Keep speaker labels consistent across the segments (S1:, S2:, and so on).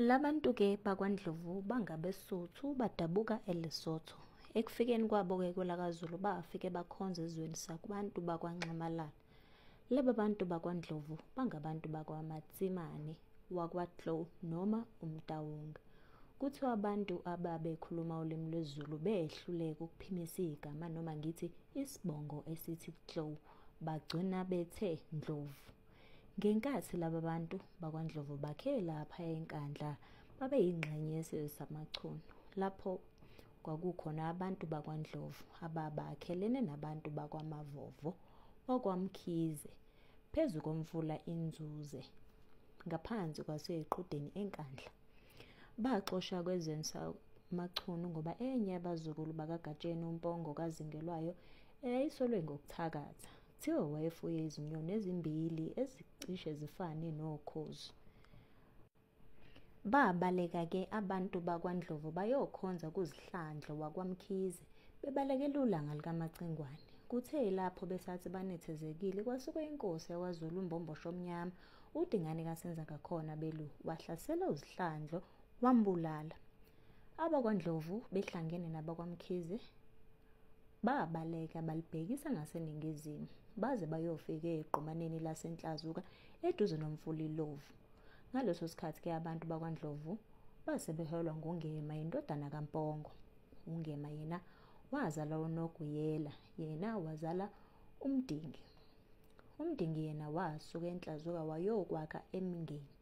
S1: Labantu ke bakwaNdlovu bangabeSuthu badabuka eLesotho. Ekufikeni kwabo ke kwelakaZulu bafike bakhonza ezweni sakubantu bakwaNxamalala. Laba bantu bakwaNdlovu bangabantu bakwaMatsimane wakwaTlou noma uMtawonga. Kuthiwa abantu ababekhuluma ulimi lwesiZulu behluleka ukuphimisa igama noma ngithi isibongo esithi Tlou bagcina bethe Ndlovu. Ngenkathi laba bantu bakwaNdlovu bakhe lapha eNkandla babeyingxenye yesizwe samaChunu lapho kwakukhona abantu bakwaNdlovu ababakhelene nabantu bakwaMavovo wakwaMkhize phezu komfula iNzuze ngaphansi kwaseyiqudeni eNkandla. Baxoshwa kwezweni samaChunu ngoba enye yabazukulu bakaGatsheni uMpongo kaZingelwayo eyayisolwe ngokuthakatha Kuthiwa wayefuye izinyoni ezimbili ezicishe zifane nokhozi. Babaleka ke abantu bakwaNdlovu bayokhonza kuzihlandlo wakwaMkhize bebalekela ulanga likaMacingwane. Kuthe lapho besathi banethezekile kwasuke inkosi yakwaZulu uMbombosho Omnyama uDingane kaSenzangakhona belu wahlasela uzihlandlo wambulala. AbakwaNdlovu behlangene nabakwaMkhize Babaleka balibhekisa ngaseningizimu baze bayofika egqumaneni laseNhlazuka eduze nomfula iLovu. Ngaleso sikhathi ke abantu bakwaNdlovu base beholwa nguNgema indodana kaMpongo. UNgema yena wazala uNoguyela, yena wazala uMdingi. UMdingi yena wasuka eNhlazuka wayokwakha eMngeni.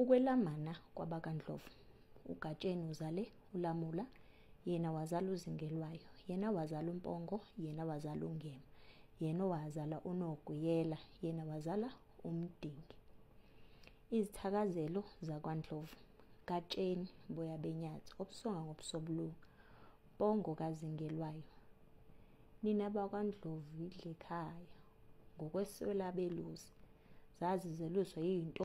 S1: Ukwelamana kwabakaNdlovu. UGatsheni uzale uLamula, yena wazala uZingelwayo, yena wazala uMpongo, yena wazala uNgema, yena wazala uNoguyela, yena wazala uMdingi. Izithakazelo zakwaNdlovu. Gatsheni Boya Benyathi, obusonga ngobusobulunga, Mpongo kaZingelwayo. Nina bakwaNdlovu yidlekhaya, ngokweswela belusi. zazi zeluswa yinto